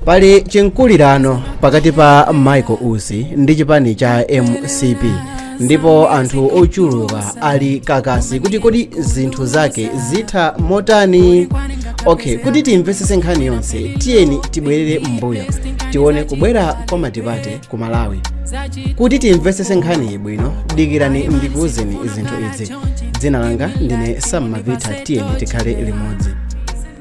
pali chinkulirano pakati pa michael usi ndi chipani cha mcp ndipo anthu ochuluka ali kakasi kuti kodi zinthu zake zitha motani okay kuti timvetsetse nkhani yonse tiyeni tibwerere m'mbuyo tione kubwera kwa matipate ku malawi kuti timvetsetse nkhaniyi bwino dikirani ndikuwuzeni zinthu izi dzina langa ndine sam mavita tiyeni tikhale limodzi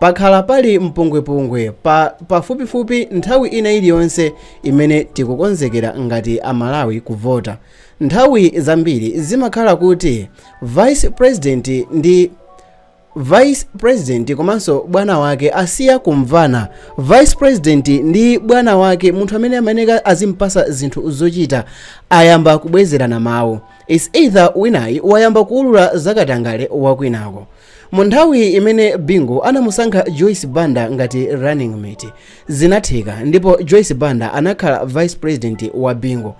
Pakhala pali mpungwepungwe pafupifupi nthawi ina iliyonse imene tikukonzekera ngati a Malawi kuvota. Nthawi zambiri zimakhala kuti vice president ndi vice president komanso bwana wake asiya kumvana. Vice president ndi bwana wake, munthu amene amayeneka azimpasa zinthu zochita, ayamba kubwezerana mawu. It's either winayi wayamba kuulula zakatangale wakwinako. Mu nthawi imene Bingu anamusankha Joyce Banda ngati running mate, zinatheka ndipo Joyce Banda anakhala vice president wa Bingu.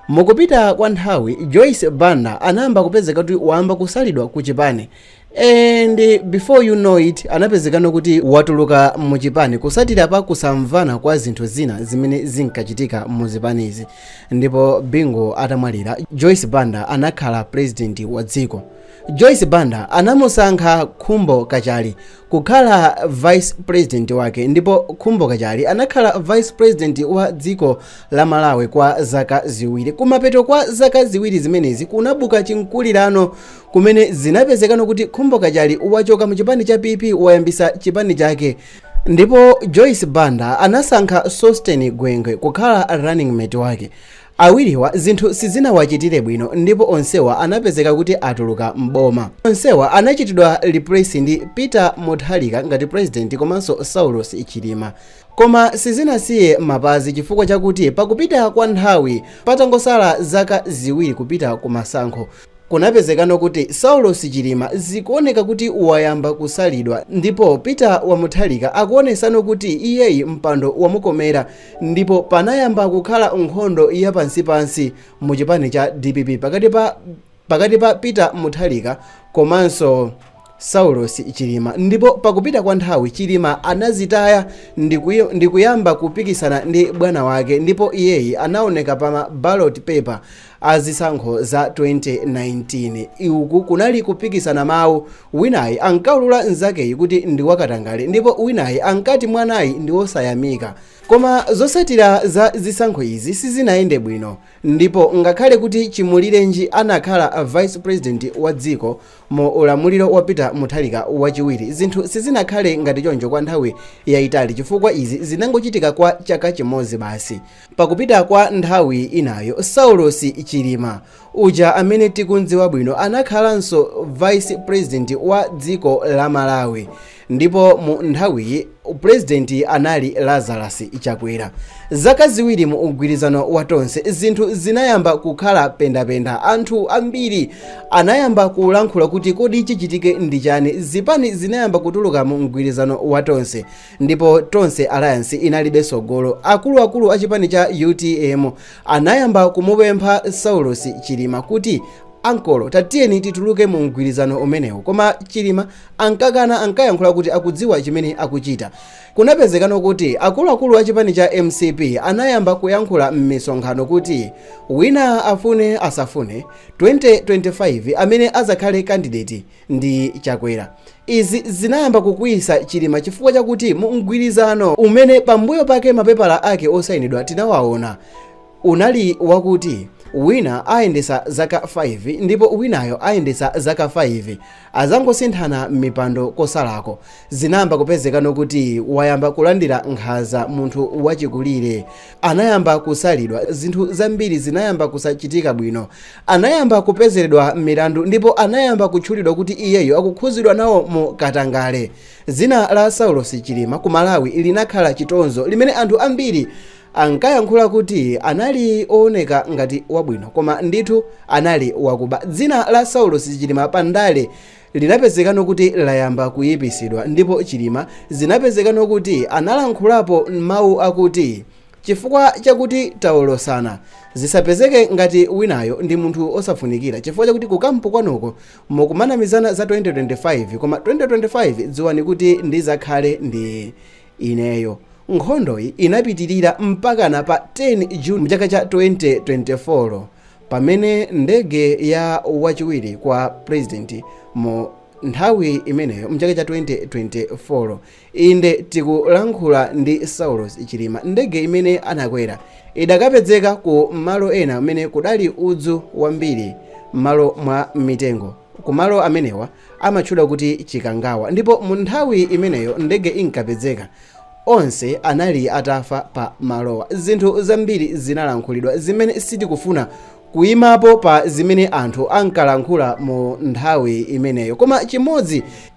Mukupita kwa nthawi, Joyce Banda anayamba kupezeka kuti wayamba kusalidwa ku chipani and before you know it anapezekano kuti watuluka mu chipani kusatira pa kusamvana kwa zinthu zina zimene zinkachitika mu zipanizi ndipo Bingu atamwalira, Joyce Banda anakhala president wa dziko. Joyce Banda anamusankha Khumbo Kachali kukhala vice president wake ndipo Khumbo Kachali anakhala vice president wa dziko la Malawi kwa zaka ziwiri. Kumapeto kwa zaka ziwiri zimenezi kunabuka chinkulirano kumene zinapezekano kuti Khumbo Kachali wachoka mu chipani cha PP wayambisa chipani chake ndipo Joyce Banda anasankha Sosten Gwengwe kukhala running mate wake. Awiriwa zinthu sizinawachitire bwino ndipo onsewa anapezeka kuti atuluka m'boma. Onsewa anachitidwa replace ndi Peter Mutharika ngati president komanso Saulos Chilima. Koma sizinasiye mapazi chifukwa chakuti pakupita kwa nthawi patangosala zaka ziwiri kupita ku masankho, kunapezekano kuti Saulos Chilima zikuoneka kuti wayamba kusalidwa ndipo Peter wa Mutharika akuonesano kuti iyeyi mpando wamukomera. ndipo panayamba kukhala nkhondo ya pansipansi mu chipani cha dpp pakati pa peter mutharika komanso saulos chilima ndipo pakupita kwa nthawi chilima anazitaya ndi kuyamba kupikisana ndi bwana wake ndipo iyeyi anaoneka pa ma ballot paper a zisankho za 2019. Uku kunali kupikisana mawu, winayi ankaulula nzakeyi kuti ndi wakatangale ndipo winayi ankati mwanayi ndi wosayamika. Koma zotsatira za zisankho izi sizinayende bwino ndipo ngakhale kuti Chimulirenji anakhala vice president wa dziko mu ulamuliro wa Peter Mutharika wachiwiri, zinthu sizinakhale ngati choncho kwa nthawi yaitali chifukwa izi zinangochitika kwa chaka chimodzi basi. Pakupita kwa nthawi inayo Saulos Chilima uja amene tikum'dziwa bwino anakhalanso Vice President wa dziko la Malawi ndipo mu nthawiyi President anali Lazarus Chakwera. Zaka ziwiri mu mgwirizano wa Tonse zinthu zinayamba kukhala pendapenda. Anthu ambiri anayamba kulankhula kuti kodi chichitike ndi chani? Zipani zinayamba kutuluka mu mgwirizano wa Tonse. ndipo tonse alliance inalibe tsogolo akuluakulu a chipani cha utm anayamba kumupempha saulos chilima kuti ankolo tatiyeni tituluke mu mgwirizano umenewu koma chilima ankakana ankayankhula kuti akudziwa chimene akuchita kunapezekano kuti akuluakulu a chipani cha mcp anayamba kuyankhula m'misonkhano kuti wina afune asafune 2025 amene azakhale kandideti ndi chakwera izi zinayamba kukwiyisa chilima chifukwa chakuti mu mgwirizano umene pambuyo pake mapepala ake osayinidwa tinawaona unali wakuti wina ayendesa zaka 5 ndipo winayo ayendesa zaka 5 azangosinthana mipando kosalako zinayamba kupezekano kuti wayamba kulandira nkhaza munthu wachikulire anayamba kusalidwa, zinthu zambiri zinayamba kusachitika bwino, anayamba kupezeredwa milandu ndipo anayamba kutchulidwa kuti iyeyo akukhuzidwa nawo mu katangale. Dzina la Saulos Chilima ku Malawi linakhala chitonzo limene anthu ambiri ankayankhula kuti anali owoneka ngati wabwino koma ndithu anali wakuba. Dzina la Saulos Chilima pa ndale Linapezekano kuti layamba kuyipisidwa ndipo Chilima zinapezekano kuti analankhulapo mau akuti chifukwa chakuti taolosana zisapezeke ngati winayo ndi munthu osafunikira chifukwa chakuti ku camp kwanuko mukumanamizana za 2025 koma 2025 dziwani kuti ndizakhale ndi ineyo. Nkhondoyi inapitilira mpakana pa 10 June mchaka cha 2024. pamene ndege ya wachiwiri kwa purezidenti mu nthawi imeneyo mchaka cha 2024 inde tikulankhula ndi saulos chilima ndege imene anakwera idakapezeka ku malo ena kumene kudali udzu wambiri m'malo mwa mitengo Kumalo amenewa amatchedwa kuti Chikangawa ndipo mu nthawi imeneyo ndege inkapezeka onse anali atafa pa malowa. Zinthu zambiri zinalankhulidwa zimene sitikufuna kuimapo pa zimene anthu ankalankhula mu nthawi imeneyo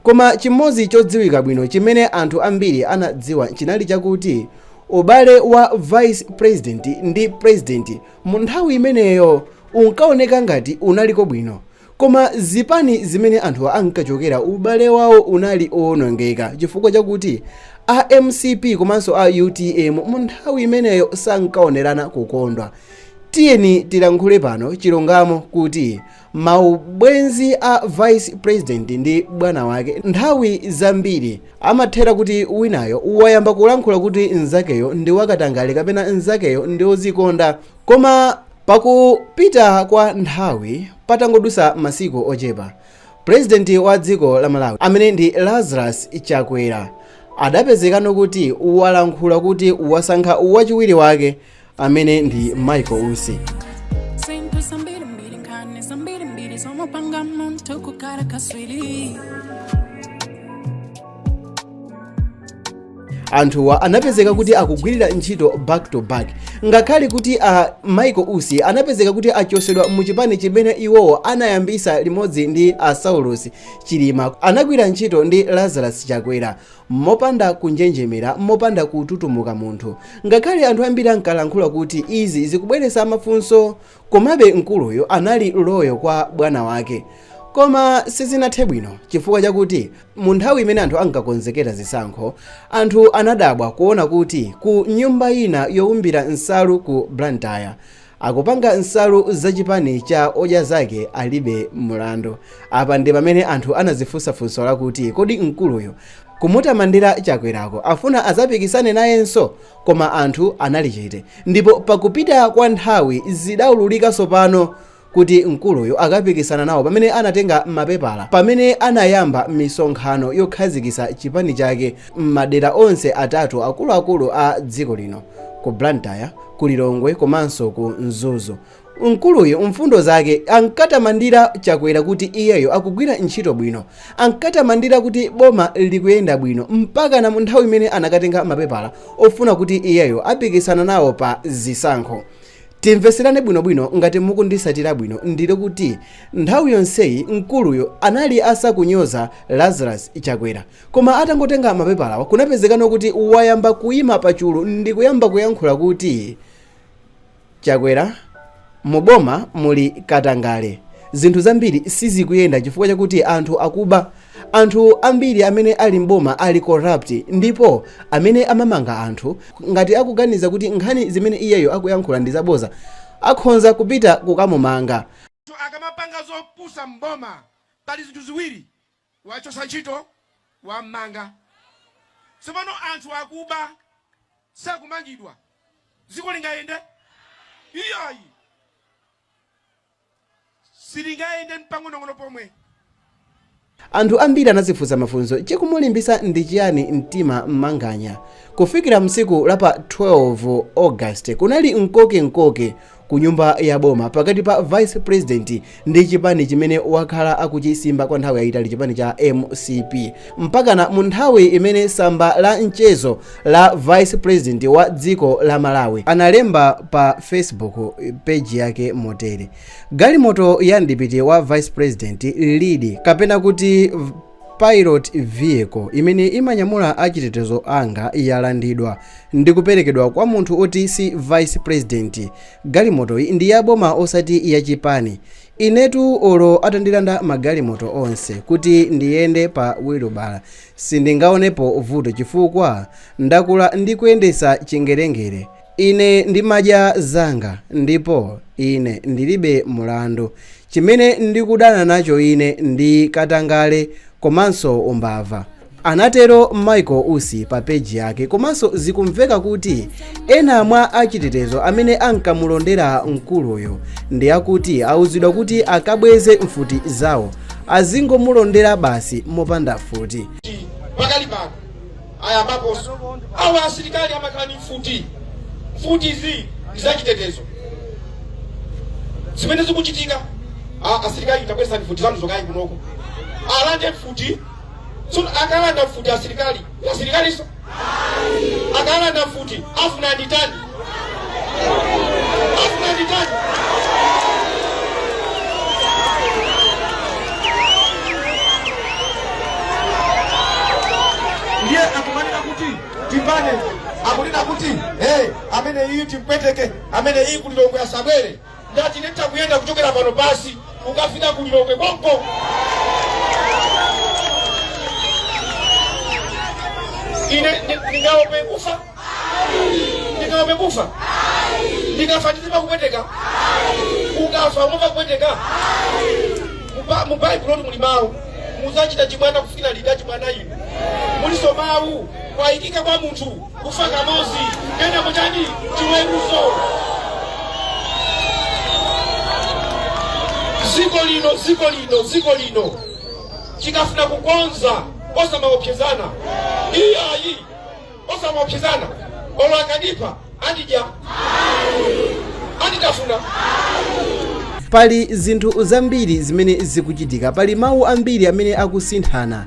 koma chimodzi chodziwika bwino chimene anthu ambiri anadziwa chinali chakuti ubale wa Vice President ndi President Mu nthawi imeneyo unkaoneka ngati unaliko bwino koma zipani zimene anthu ankachokera ubale wawo unali owonongeka chifukwa chakuti a mcp komanso a utm mu nthawi imeneyo sankaonerana kukondwa. Tiyeni tilankhule pano chilungamo kuti Maubwenzi a vice president ndi bwana wake nthawi zambiri amathera kuti winayo wayamba kulankhula kuti nzakeyo ndi wakatangale kapena nzakeyo ndi ozikonda koma pakupita kwa nthawi patangodusa masiku ochepa president wa dziko la Malawi amene ndi Lazarus Chakwera adapezekano kuti walankhula kuti wasankha wachiwiri wake amene ndi michael usi anthuwa anapezeka kuti akugwirira ntchito back to back ngakhale kuti a michael usi anapezeka kuti achosedwa mu chipani chimene iwowo anayambisa limodzi ndi a saulos chilima anagwira ntchito ndi lazarus chakwera Mopanda kunjenjemera, mopanda kututumuka munthu, ngakhale anthu ambiri ankalankhula kuti izi zikubweretsa mafunso, komabe mkuluyu anali loyo kwa bwana wake. Koma sizinathe bwino chifukwa chakuti mu nthawi imene anthu ankakonzekera zisankho, anthu anadabwa kuona kuti ku nyumba ina youmbira nsalu ku Blantyre, Akupanga nsalu za chipani cha Odya Zake Alibe Mulandu. Apa ndi pamene anthu anazifunsa funso lakuti kodi mkuluyu kumutamandira Chakwerako afuna azapikisane nayenso? Koma anthu anali chete ndipo pakupita kwa nthawi zidaululika tsopano kuti mkuluyu akapikisana nawo pamene anatenga mapepala pamene anayamba misonkhano yokhazikisa chipani chake m'madera onse atatu akuluakulu a dziko lino ku Blantyre, ku Lilongwe komanso ku Mzuzu. Mkuluyu mfundo zake ankatamandira Chakwera kuti iyeyo akugwira ntchito bwino, ankatamandira kuti boma likuyenda bwino mpakana mu nthawi imene anakatenga mapepala ofuna kuti iyeyo apikisana nawo pa zisankho. Timveserane bwinobwino ngati mukundisatira bwino ndili kuti nthawi yonseyi mkuluyu anali asakunyoza Lazarus Chakwera. Koma atangotenga mapepalawa kunapezekano kuti wayamba kuima pachulu ndikuyamba kuyankhula kuti Chakwera mu boma muli katangale zinthu zambiri sizikuyenda chifukwa chakuti anthu akuba anthu ambiri amene ali m'boma ali corrupt ndipo amene amamanga anthu ngati akuganiza kuti nkhani zimene iyeyo akuyankhula ndi zaboza akhonza kupita kukamumanga. Akamapanga zopusa m'boma pali zinthu ziwiri wachotsa ntchito wam'manga. Tsopano anthu akuba sakumangidwa, dziko lingayende? Iyayi, silingayende mpang'onong'ono pomwe. Anthu ambiri anazifunsa mafunso chikumulimbisa ndi chiyani mtima Manganya kufikira msiku la pa 12 August kunali mkoke mkoke ku nyumba ya boma pakati pa vice president ndi chipani chimene wakhala akuchisimba kwa nthawi yayitali chipani cha mcp mpakana mu nthawi imene samba la mchezo la vice president wa dziko la malawi analemba pa facebook page yake motere galimoto ya mdipiti wa vice president lead kapena kuti Pilot vehicle imene imanyamula achitetezo anga yalandidwa ndikuperekedwa kwa munthu oti si vice president. Galimoto ndi ya boma osati ya chipani. Inetu olo atandilanda magalimoto onse kuti ndiyende pa wilubala sindingaonepo vuto chifukwa ndakula ndikuyendetsa chingerengere. Ine ndimadya zanga, ndipo ine ndilibe mulandu. Chimene ndikudana nacho ine ndi katangale komanso umbava. Anatero Michael Usi pa page yake komanso zikumveka kuti ena mwa achitetezo amene ankamulondera mkuluyu ndi akuti auzidwa kuti akabweze mfuti zawo azingomulondera basi mopanda mfuti. pakali pano. ayambaposo. Awa asilikali amakhala ndi mfuti. Mfutizi ndi zachitetezo. Zimene zikuchitika, a- asilikali tabwezani mfuti zanu zokayi kunoko. Alande mfuti. Tsono akalanda mfuti asilikali, asilikaliso. Akalanda mfuti, afuna nditani? ndiye akumanena kuti timbane akunena kuti hey, amene iyi timpweteke amene iyi kulilongwe asabwere Ndati nditha kuyenda kuchokera pano pasi kukafika ku Lilongwe konko. Ine ndi- ndingaope kufa? Ndingaope kufa? Ndikafa ndizimva kupweteka? Ukafa umamva kupweteka? Muba- Mu Baibulo muli mawu muzachita chibwana kufikira liti chibwana inu muliso mawu kwayikika kwa munthu kufa kamodzi kenako chani chiweruzo dziko lino dziko lino dziko lino tikafuna kukonza osamaopsezana iyayi osamaopsezana olo akandipha andidya anditafuna pali zinthu zambiri zimene zikuchitika pali mawu ambiri amene akusinthana